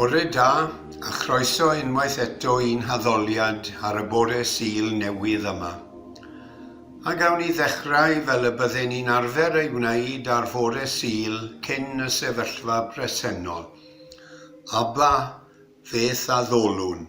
Bore da, a chroeso unwaith eto i'n haddoliad ar y bore Sul newydd yma. A gawn ni ddechrau fel y bydden ni'n arfer ei wneud ar fore Sul cyn y sefyllfa bresennol. Aba, feth a ddolwn!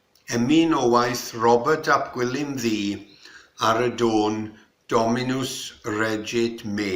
Emyn o waith Robert ap Gwilym Ddu ar y dôn Dominus regit me.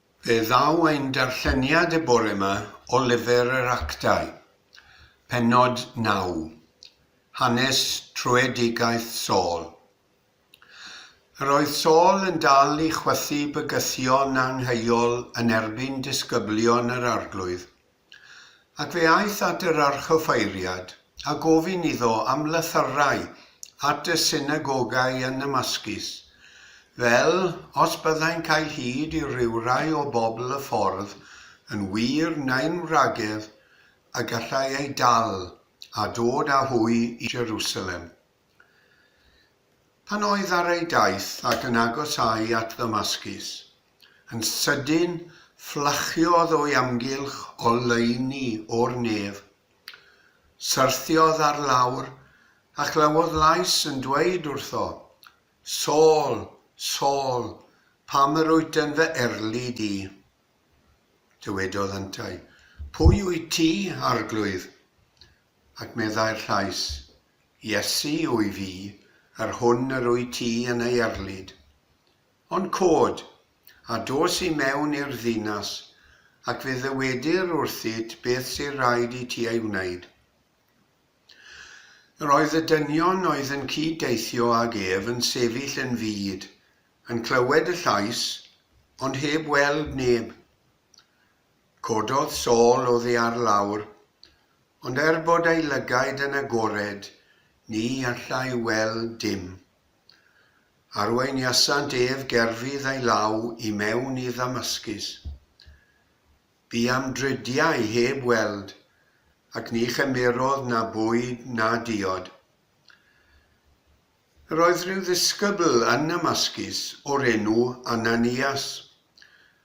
Fe ddaw ein darlleniad y bore 'ma o lyfr yr Actau, pennod naw, Hanes Tröedigaeth Saul. Yr oedd Saul yn dal i chwythu bygythion angheuol yn erbyn disgyblion yr Arglwydd, Ac fe aeth at yr archoffeiriad, a gofyn iddo am lythyrau at y synagogau yn Namascus, fel, os byddai'n cael hyd i rywrai o bobl y ffordd yn wir neu'n wragedd, y gallai eu dal, a dod â hwy i Jerusalem. Pan oedd ar ei daith ac yn agosáu at Ddamascus, Yn sydyn, fflachiodd o'i amgylch oleuni o'r nef. Syrthiodd ar lawr, a chlywodd lais yn dweud wrtho, Saul, Saul, pam yr wyt yn fy erlid di? Dywedodd yntau, Pwy wyt ti, Arglwydd? Ac meddai'r llais, Iesu wy fi, yr hwn yr wyt ti yn ei erlid. Ond cod, a dos i mewn i'r ddinas, ac fe ddywedir wrthyt beth sydd raid i ti ei wneud. Yr oedd y dynion oedd yn cyd deithio ag ef yn sefyll yn fud, yn clywed y llais, ond heb weld neb. Cododd Saul oddi ar lawr, ond er bod ei lygaid yn agored, ni allai weld dim. Arweiniasant ef gerfydd ei law i mewn i Ddamascus. Bu am dridiau heb weld, ac ni chymerodd na bwyd na diod. Yr oedd rhyw ddisgybl yn Namascus o'r enw Ananias,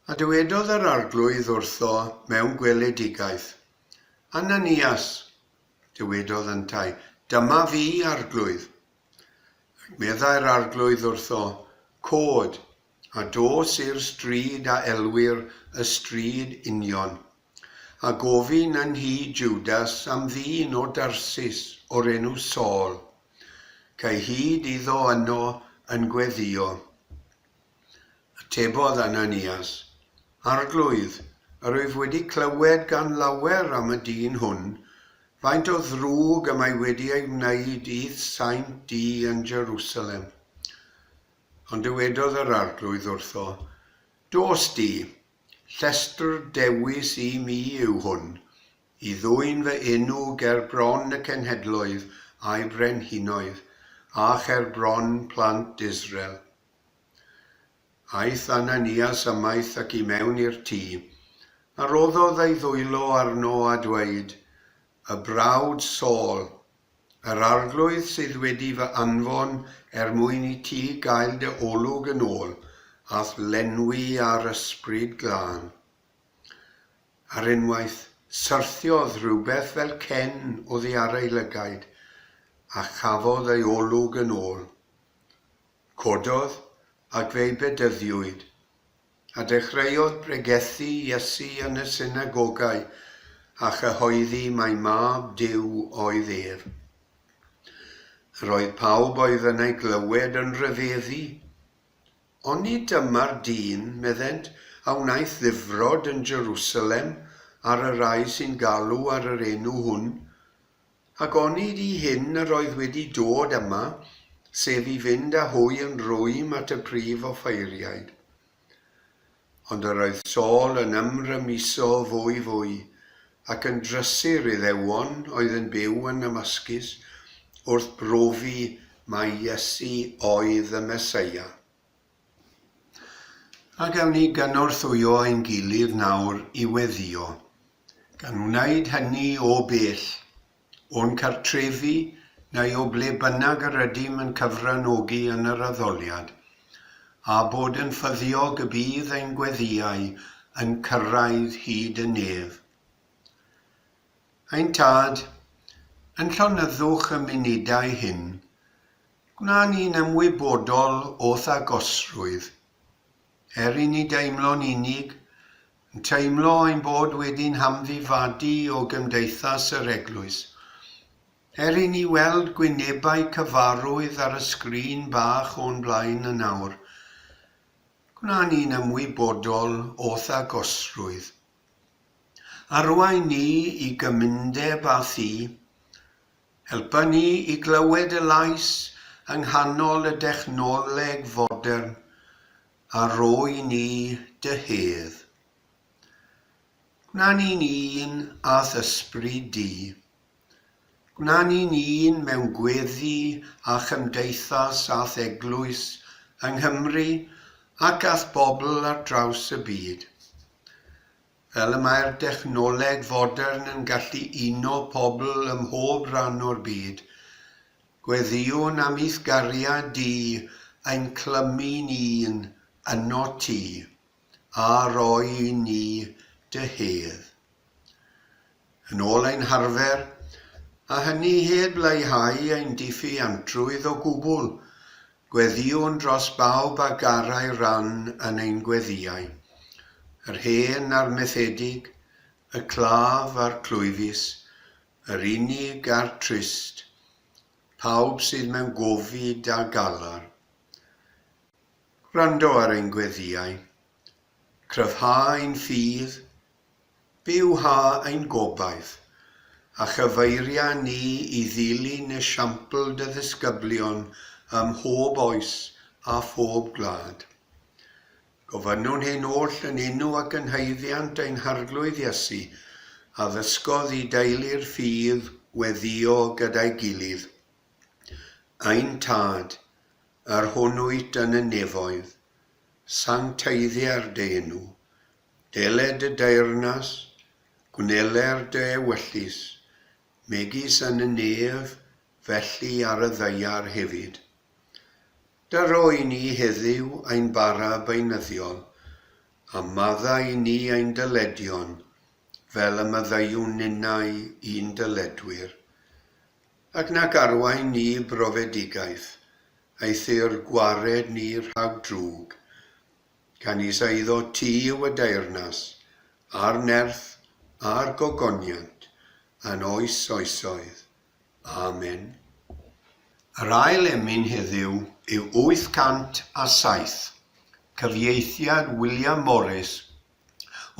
a dywedodd yr Arglwydd wrtho mewn gweledigaeth, Ananias! Dywedodd yntau, Dyma fi, Arglwydd. Meddai'r Arglwydd wrtho, Cod, a dos i'r stryd a elwir y Stryd Union, a gofyn yn nhŷ Jwdas am ddyn o Darsus o'r enw Saul, cae hyd iddo yno yn gweddïo. Atebodd Ananias, Arglwydd, yr wyf wedi clywed gan lawer am y dyn hwn, faint o ddrwg y mae wedi ei wneud i'th saint di yn Jerusalem. Ond dywedodd yr Arglwydd wrtho, Dos di, llestr dewis i mi yw hwn, i ddwyn fy enw ger bron y cenhedloedd a'i brenhinoedd, a cher bron plant Israel. Aeth Ananias ymaith ac i mewn i'r tŷ, a rhoddodd ei ddwylo arno a dweud, Y brawd Saul, yr Arglwydd sydd wedi fy anfon er mwyn i ti gael dy olwg yn ôl a'th lenwi â'r Ysbryd Glân. Ar unwaith, syrthiodd rhywbeth fel cen oddi ar ei lygaid, a chafodd ei olwg yn ôl. Cododd, ac fe'i bedyddiwyd. A dechreuodd bregethu Iesu yn y synagogau, a chyhoeddi mai Mab Duw oedd ef. Yr oedd pawb oedd yn ei glywed yn rhyfeddu. Oni dyma'r dyn, meddent, a wnaeth ddifrod yn Jerusalem ar y rai sy'n galw ar yr enw hwn, Ac onid i hyn yr oedd wedi dod yma, sef i fynd â hwy yn rwym at y prif offeiriaid? Ond yr oedd Saul yn ymrymuso fwy fwy, ac yn drysur Iddewon oedd yn byw yn Namascus, wrth brofi mai Iesu oedd y Meseia. A gawn ni gynorthwyo ein gilydd nawr i weddïo, gan wneud hynny o bell, o'n cartrefi neu o ble bynnag yr ydym yn cyfranogi yn yr addoliad, a bod yn ffyddiog y bydd ein gweddïau yn cyrraedd hyd y nef. Ein Tad, yn llonyddwch y munudau hyn, Gwnawn ni'n ymwybodol o thagosrwydd, er i ni deimlo'n unig, yn teimlo ein bod wedi'n hamddifadu o gymdeithas yr Eglwys. Er i ni weld gwynebau cyfarwydd ar y sgrin bach o'n blaen yn awr, gwnawn ni'n ymwybodol o thagosrwydd. Arwain ni i gymundeb â Thi, Helpa ni i glywed y Lais yng nghanol y dechnoleg fodern, a rhoi ni dy hedd. Gwna ni'n un â th'Ysbryd di. Gwna ni'n un mewn gweddi a chymdeithas a'th Eglwys yng Nghymru ac a'th bobl ar draws y byd. Fel y mae'r dechnoleg fodern yn gallu uno pobl ym mhob rhan o'r byd, gweddïwn am i'th gariad di ein clymu ni un yno ti, a rhoi i ni dy hedd. Yn ôl ein harfer, a hynny heb leihau ein diffuantrwydd o gwbl, Gweddïwn dros bawb a garai ran yn ein gweddïau, yr hen a'r methedig, y claf a'r clwyfus, yr unig a'r trist, pawb sydd mewn gofid a galar. Gwrando ar ein gweddïau. Cryfhau ein ffydd, Byw ha ein gobaith, a chyfeiria ni i ddilyn esiampl dy ddisgyblion ym mhob oes a phob gwlad. Gofynnwn hyn oll yn enw ac yn haeddiant ein Harglwydd Iesu, a ddysgodd i deulu'r ffydd weddïo gyda'i gilydd. Ein Tad, yr hwn wyt yn y nefoedd, sancteiddia'r dy enw, Deled y deyrnas, gwneler dy ewyllys, megis yn y nef, felly ar y ddaear hefyd. Daro i ni heddyw ein bara beunyddiol, a madda i ni ein dyledion, fel y maddeuwn ninnau i'n dyledwyr. Ac nac arwain ni i brofedigaeth, aethu'r gwared ni rhag drwg, Canys a iddo ti yw y deyrnas, a'r nerth, a'r gogoniant, yn oes oesoedd. Amen. Yr ail emyn heddiw yw 807, cyfieithiad William Morris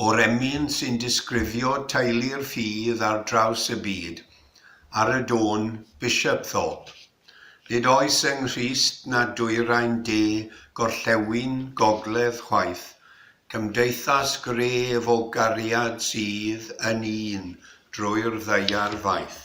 o'r emyn sy'n disgrifio teulu'r ffydd ar draws y byd, ar y dôn Bishopthorpe. Nid oes yng Nghrist na Dwyrain De, Gorllewin, Gogledd chwaith, cymdeithas gref o gariad sydd yn un drwy'r ddaear faith.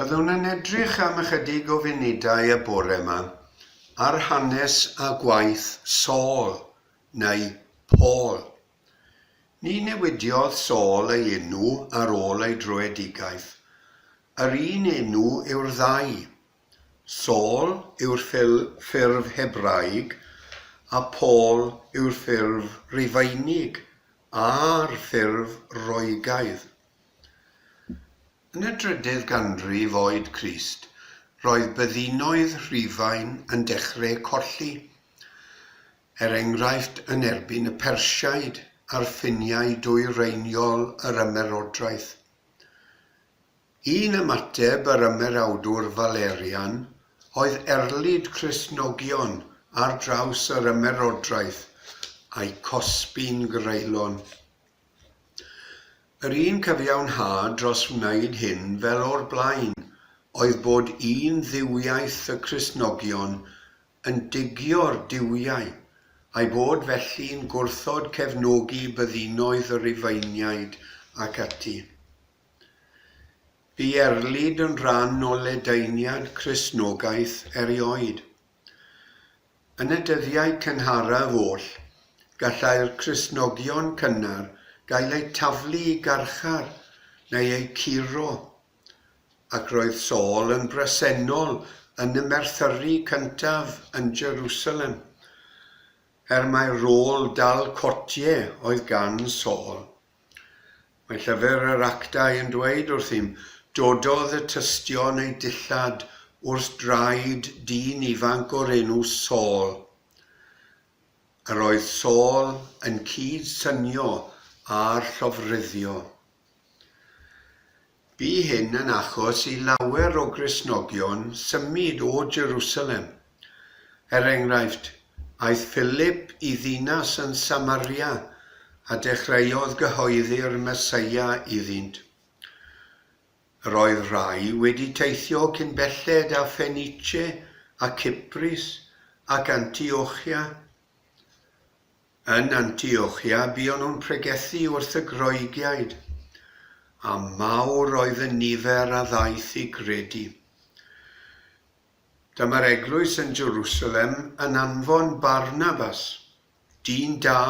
Byddwn yn edrych am ychydig o funudau y bore yma ar hanes a gwaith Saul, neu Paul, Ni newidiodd Saul ei enw ar ôl ei dröedigaeth. Yr un enw yw'r ddau. Saul yw'r ffurf Hebraeg a Paul yw'r ffurf Rufeinig a'r ffurf Roegaidd. Yn y drydydd ganrif oed Crist, roedd byddinoedd Rhufain yn dechreu colli. er enghraifft yn erbyn y Persiaid a'r Ffiniau dwyreiniol yr Ymerodraeth. Un ymateb yr Ymerawdwr Valerian oedd erlid Cristnogion ar draws yr Ymerodraeth a'u cosbi'n greulon. Yr un cyfiawnhad dros wneud hyn fel o'r blaen oedd bod un dduwiaeth y Cristnogion yn digio'r duwiau, a'i bod felly'n gwrthod cefnogi byddinoedd y Rhufeiniaid, ac ati. Bu Erlid yn rhan o ledaeniad Cristnogaeth erioed. Yn y dyddiau cynharaf oll, gallai'r Cristnogion cynnar gael eu taflu i garchar neu eu curo Ac roedd Saul yn bresennol yn y merthyri cyntaf yn Jerusalem, er mai'r rôl dal cotie oedd gan Saul. Mae llyfr yr Actau yn dweud wrthym, Dododd y tystion eu dillad wrth draed dyn ifanc o'r enw Saul. Yr oedd Saul yn cyd-synio â'r llofruddio. Bu hyn yn achos i lawer o Gristnogion symud o Jerusalem. Er enghraifft, aeth Philip i ddinas yn Samaria a dechreuodd gyhoeddi'r Meseia iddynt. Yr oedd rhai wedi teithio cyn belled â Phenice a Cyprus ac Antiochia. Yn Antiochia buon nhw'n pregethu wrth y Groegiaid, a mawr oedd y nifer a ddaeth i gredu. Dyma'r eglwys yn Jerusalem yn anfon Barnabas, dyn da,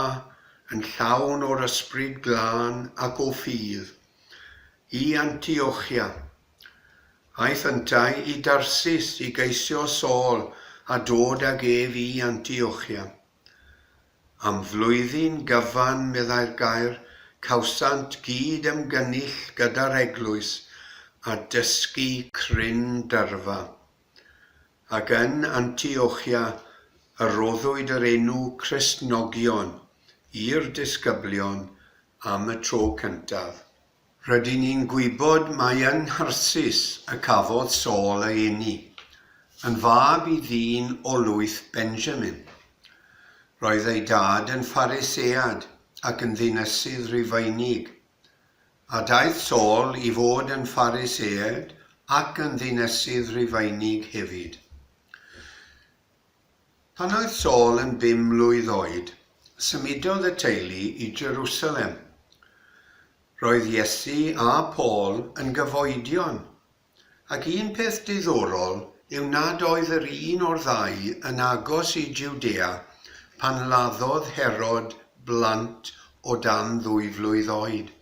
yn llawn o'r Ysbryd Glân ac o ffydd, i Antiochia. Aeth yntau i Darsus i geisio Saul a dod ag ef i Antiochia. Am flwyddyn gyfan, meddai'r gair, cawsant gyd ymgynnull gyda'r eglwys a dysgu cryn dyrfa. Ac yn Antiochia y rhoddwyd yr enw Cristnogion i'r disgyblion am y tro cyntaf. Rydyn ni'n gwybod mai yng Ngharsys y cafodd Saul ei eni, yn fab i ddyn o lwyth Benjamin. Roedd ei dad yn Pharisead ac yn ddinesydd Rufeinig, a daeth Saul i fod yn Pharisead ac yn ddinesydd Rufeinig hefyd. Pan oedd Saul yn bum mlwydd oed, symudodd y teulu i Jerusalem. Roedd Iesu a Paul yn gyfoedion, ac un peth diddorol yw nad oedd yr un o'r ddau yn agos i Jwdea pan laddodd Herod blant o dan ddwy flwydd oed,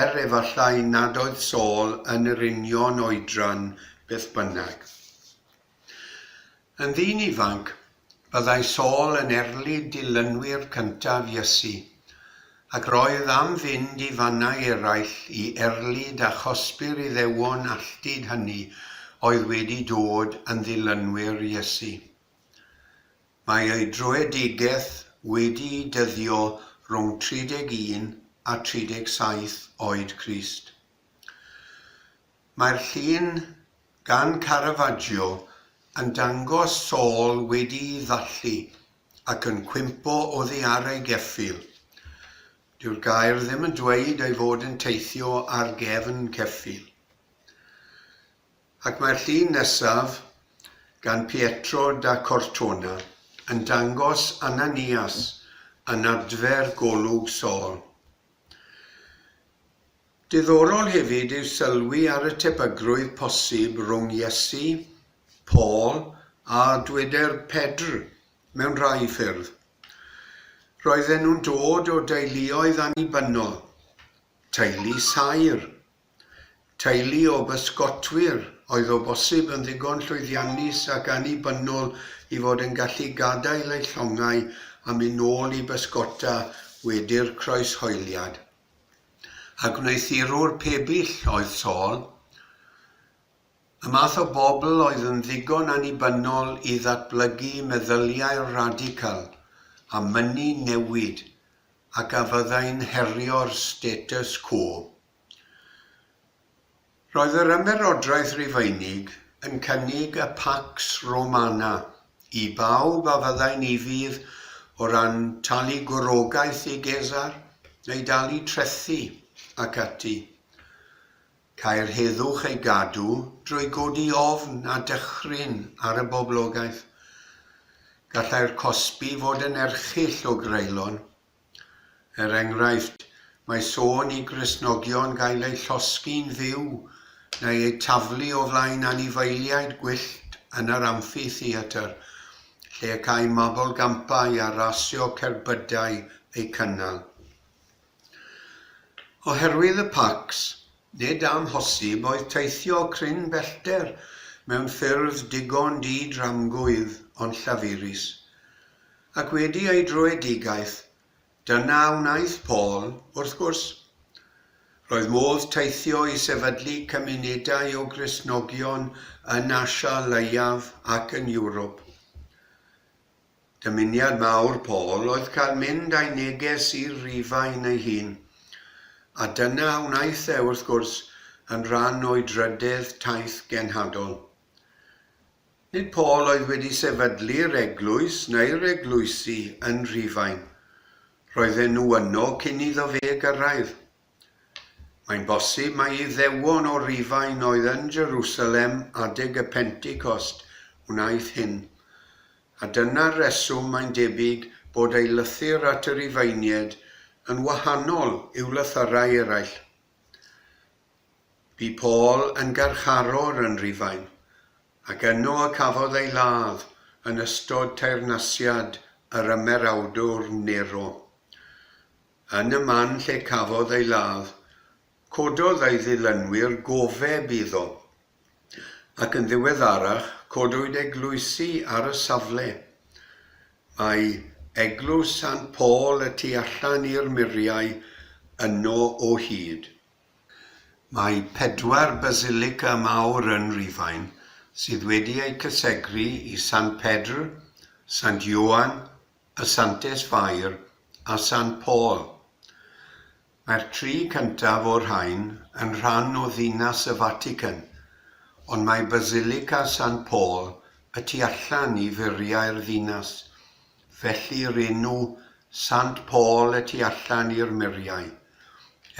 er efallai nad oedd Saul yn yr union oedran beth bynnag. Yn ddyn ifanc, byddai Saul yn erlid dilynwyr cyntaf Iesu, ac roedd am fynd i fannau eraill i erlid a chosbi'r Iddewon alltud hynny oedd wedi dod yn ddilynwyr Iesu. Mae ei dröedigaeth wedi'i dyddio rhwng 31 a 37 oed Crist. Mae'r llun gan Caravaggio yn dangos Saul wedi'i ddathlu ac yn cwympo oddi ar ei geffyl. Dyw'r gair ddim yn dweud ei fod yn teithio ar gefn ceffyl. Ac mae'r llun nesaf, gan Pietro da Cortona, yn dangos Ananias yn adfer golwg Saul. Diddorol hefyd yw sylwi ar y tebygrwydd posib rhwng Iesu, Paul a dweder Pedr mewn rhai ffyrdd. Roedden nhw'n dod o deuluoedd annibynnol, teulu saer, teulu o bysgotwyr oedd o bosib yn ddigon llwyddiannus ac annibynnol i fod yn gallu gadael eu llongau a mynd nôl i bysgota wedi'r croeshoeliad. a gwneuthurwr pebyll oedd Saul, y math o bobl oedd yn ddigon annibynnol i ddatblygu meddyliau radical a mynnu newid ac a fyddai'n herio'r status quo. Roedd yr Ymerodraeth Rufeinig yn cynnig y Pax Romana i bawb a fyddai'n ufudd o ran talu gwrogaeth i Gesar, neu dalu trethi, ac ati. Câi'r heddwch ei gadw drwy godi ofn a dychryn ar y boblogaeth. Gallai'r cosbi fod yn erchyll o greulon, Er enghraifft, mae sôn i Gristnogion gael eu llosgi'n fyw neu eu taflu o flaen anifeiliaid gwyllt yn yr amffitheatr, lle y câi mabolgampau a rasio cerbydau eu cynnal. Oherwydd y pacs, nid amhosib oedd teithio cryn bellter mewn ffyrdd digon di-dramgwydd ond llafurus. Ac wedi ei dröedigaeth, dyna a wnaeth Paul, wrth gwrs. Roedd modd teithio i sefydlu cymunedau o Gristnogion yn Asia Leiaf ac yn Ewrop. Dymuniad mawr Paul oedd cael mynd â'i neges i'r Rhufain ei hun, a dyna a wnaeth e, wrth gwrs, yn rhan o'i drydedd taith genhadol. Nid Paul oedd wedi sefydlu'r eglwys neu'r eglwysi yn Rhufain. Roedden nhw yno cyn iddo fe gyrraedd. Mae'n bosib mai Iddewon o Rufain oedd yn Jerusalem adeg y Pentecost wnaeth hyn, a dyna'r reswm mae'n debyg bod ei lythyr at y Rufeinied yn wahanol i'w lythyrau eraill. Bu Paul yn garcharor yn Rufain, Ac yno y cafodd ei ladd yn ystod teyrnasiad yr Ymerawdwr Nero. Yn y man lle cafodd ei ladd, cododd ei ddilynwyr gofeb iddo, ac yn ddiweddarach codwyd eglwysi ar y safle. Mae Eglwys Sant Paul y tu allan i'r muriau yno o hyd. Mae pedwar basilica mawr yn Rhufain sydd wedi eu cysegru i Sant Pedr, Sant Ioan, y Santes Fair a Sant Paul. Mae'r tri cyntaf o'r rhain yn rhan o Ddinas y Fatican, ond mae Basilica Sant Paul y tu allan i furiau'r ddinas, Felly yr enw Sant Paul y tu allan i'r muriau,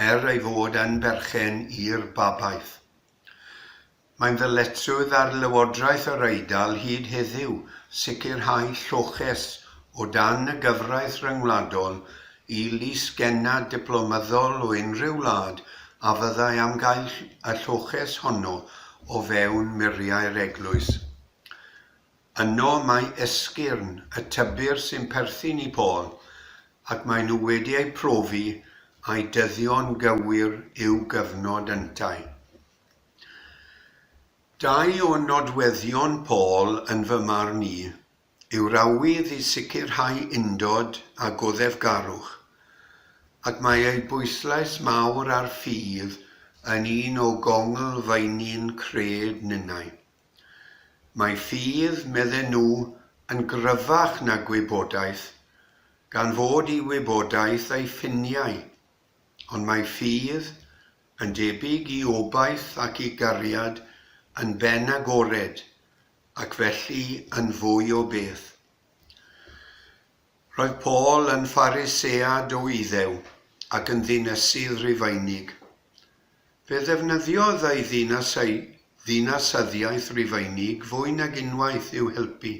er ei fod yn berchen i'r babaeth. Mae'n ddyletswydd ar Lywodraeth yr Eidal hyd heddiw sicrhau lloches o dan y gyfraith ryngwladol i lys-gennad diplomyddol o unrhyw wlad a fyddai am gael y lloches honno o fewn muriau'r eglwys. Yno mae esgyrn y tybir sy'n perthyn i Paul, ac maen nhw wedi eu profi ai dyddio'n gywir yw gyfnod yntau. Dau o nodweddion Paul yn fy marn i yw'r awydd i sicrhau undod a goddefgarwch, ac mae ei bwyslais mawr ar ffydd yn un o gonglfeini'n cred ninnau. Mae ffydd, medden nhw, yn gryfach na gwybodaeth, gan fod i wybodaeth ei ffiniau, ond mae ffydd, yn debyg i obaith ac i gariad, yn ben agored, ac felly yn fwy o beth. Roedd Paul yn Pharisead o Iddew ac yn ddinesydd Rufeinig. Fe ddefnyddiodd ei ddinas a'i ddinasyddiaeth Rufeinig fwy nag unwaith i'w helpu.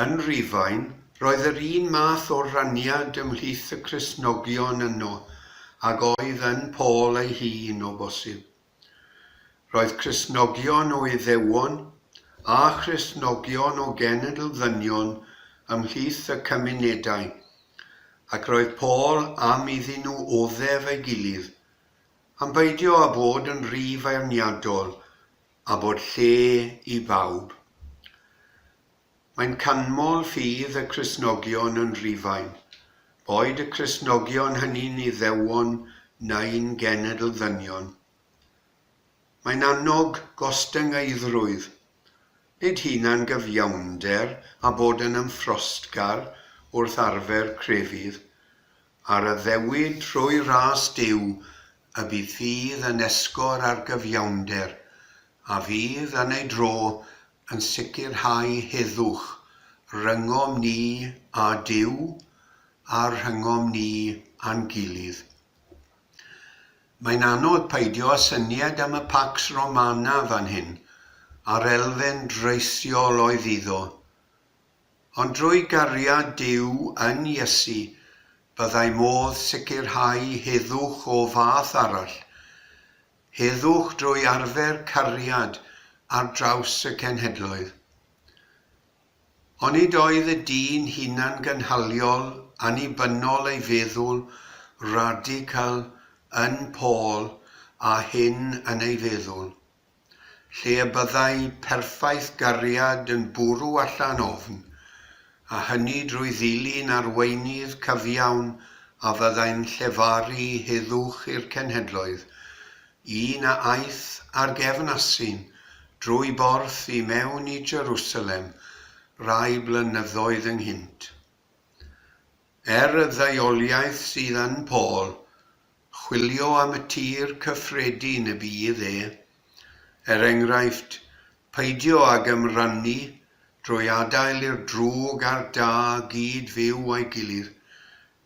Yn Rufain, roedd yr un math o raniad ymhlith y Cristnogion yno ag oedd yn Paul ei hun, o bosib. Roedd Cristnogion o Iddewon a Christnogion o genedl ddynion ymhlith y cymunedau, ac roedd Paul am iddyn nhw oddef ei gilydd, am beidio â bod yn rhy feirniadol, a bod lle i bawb. Mae'n canmol ffydd y Cristnogion yn Rhufain, boed y Cristnogion hynny'n Iddewon neu'n genedl ddynion. Mae'n annog gostyngeiddrwydd, nid hunan-gyfiawnder a bod yn ymffrostgar wrth arfer crefydd, a'r addewid trwy ras Duw y bydd ffydd yn esgor ar gyfiawnder, a fydd, yn ei dro, yn sicrhau heddwch rhyngom ni â Duw a rhyngom ni a'n gilydd. Mae'n anodd peidio â synied am y Pax Romana fan hyn, a'r elfen draethiol oedd iddo. Ond drwy gariad Duw yn Iesu, byddai modd sicrhau heddwch o fath arall, Heddwch drwy arfer cariad ar draws y cenhedloedd. Onid oedd y dyn hunangynhaliol annibynnol ei feddwl radical yn Paul a hyn yn ei feddwl, lle y byddai perffaith gariad yn bwrw allan ofn, a hynny drwy ddilyn arweinydd cyfiawn a fyddai'n llefaru heddwch i'r cenhedloedd, un a aeth ar gefn asyn drwy borth i mewn i Jerusalem rai blynyddoedd ynghynt. Er y ddaioliaeth sydd yn Paul, chwilio am y tir cyffredin y bydd e. Er enghraifft, peidio ag ymrannu drwy adael i'r drwg a'r da gyd fyw â'i gilydd,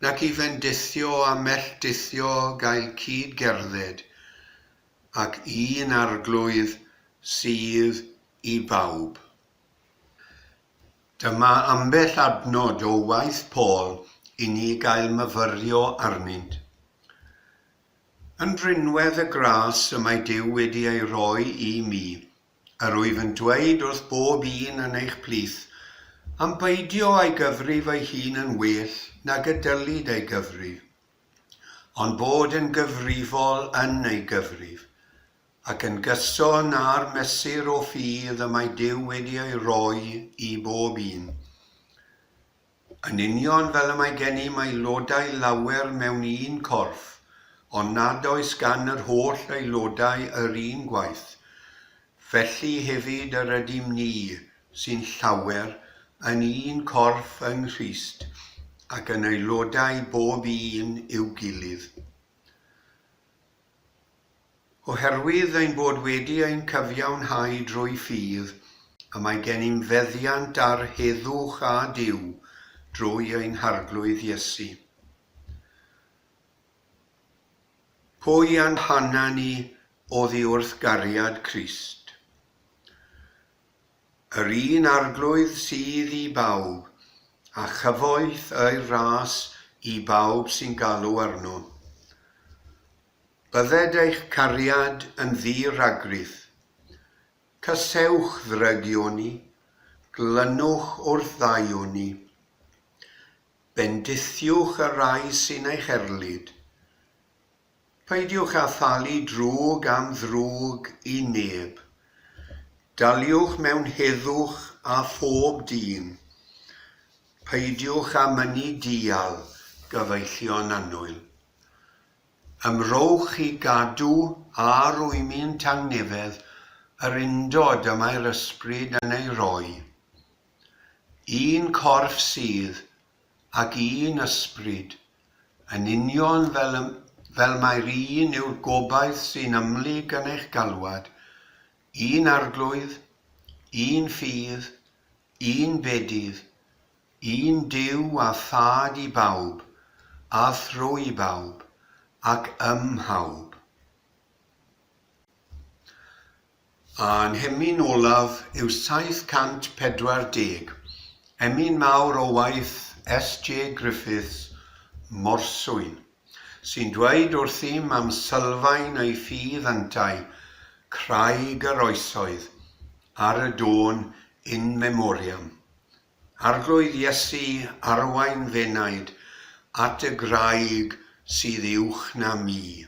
nac i fendithio a melltithio gael cyd gerdded, ac un arglwydd sydd i bawb. Dyma ambell adnod o waith Paul i ni gael myfyrio arnynt. Yn rinwedd y gras y mae Duw wedi ei roi i mi, yr wyf yn dweud wrth bob un yn eich plith, am beidio â'i gyfri fy hun yn well nag y dylid ei gyfrif, ond bod yn gyfrifol yn ei gyfrif. Ac yn gyson â'r mesur o ffydd y mae Duw wedi ei roi i bob un, yn union fel y mae gennym aelodau lawer mewn un corff, ond nad oes gan yr holl aelodau yr un gwaith, felly hefyd yr ydym ni, sy'n llawer, yn un corff yng Nghrist, ac yn aelodau bob un i'w gilydd. Oherwydd ein bod wedi ein cyfiawnhau drwy ffydd, y mae gennym feddiant ar heddwch â Duw drwy ein Harglwydd Iesu. Pwy a'n hana ni oddi wrth gariad Crist? Yr un Arglwydd sydd i bawb, a chyfoeth ei ras i bawb sy'n galw arno. Bydded eich cariad yn ddi-ragrith. Casewch ddrygioni, glynwch wrth ddaioni. Bendithiwch y rhai sy'n eich erlid, Peidiwch â thalu drwg am ddrwg i neb. Daliwch mewn heddwch â phob dyn. Peidiwch â mynnu dial gyfeillion annwyl. Ymrowch i gadw a rwymyn tangnefedd yr undod y mae'r ysbryd yn ei roi. Un corff sydd, ac un ysbryd, yn union fel y, fel mai'r un yw'r gobaith sy'n ymlyg yn eich galwad, un arglwydd, un ffydd, un bedydd, un Duw a Thad i bawb, a thrwy bawb, ac ym mhawb. A nghemin olaf yw 740, emyn mawr o waith SJ Griffiths, Morswyn, sy'n dweud wrthym am sylfaen ei ffydd yntau, Craig yr Oesoedd, ar y dôn In Memoriam. Arglwydd Iesu arwain f'enaid at y graig sydd uwch na mi.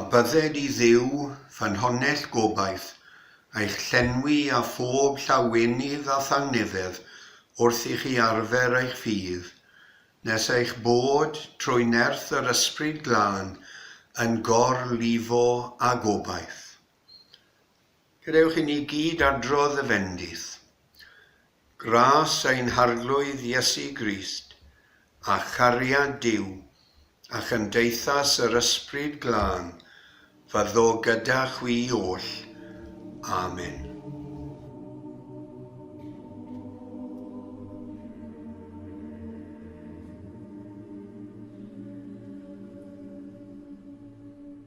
A bydded i Dduw, ffynhonnell gobaith, eich llenwi â phob llawenydd a thangnefedd wrth i chi arfer eich ffydd, nes eich bod, trwy nerth yr Ysbryd Glân, yn gor-lifo â gobaith. Gadewch i ni gyd adrodd y fendith, Gras ein Harglwydd Iesu Grist, a chariad Duw, a chymdeithas yr Ysbryd Glân, fyddo gyda chwi oll. Amen.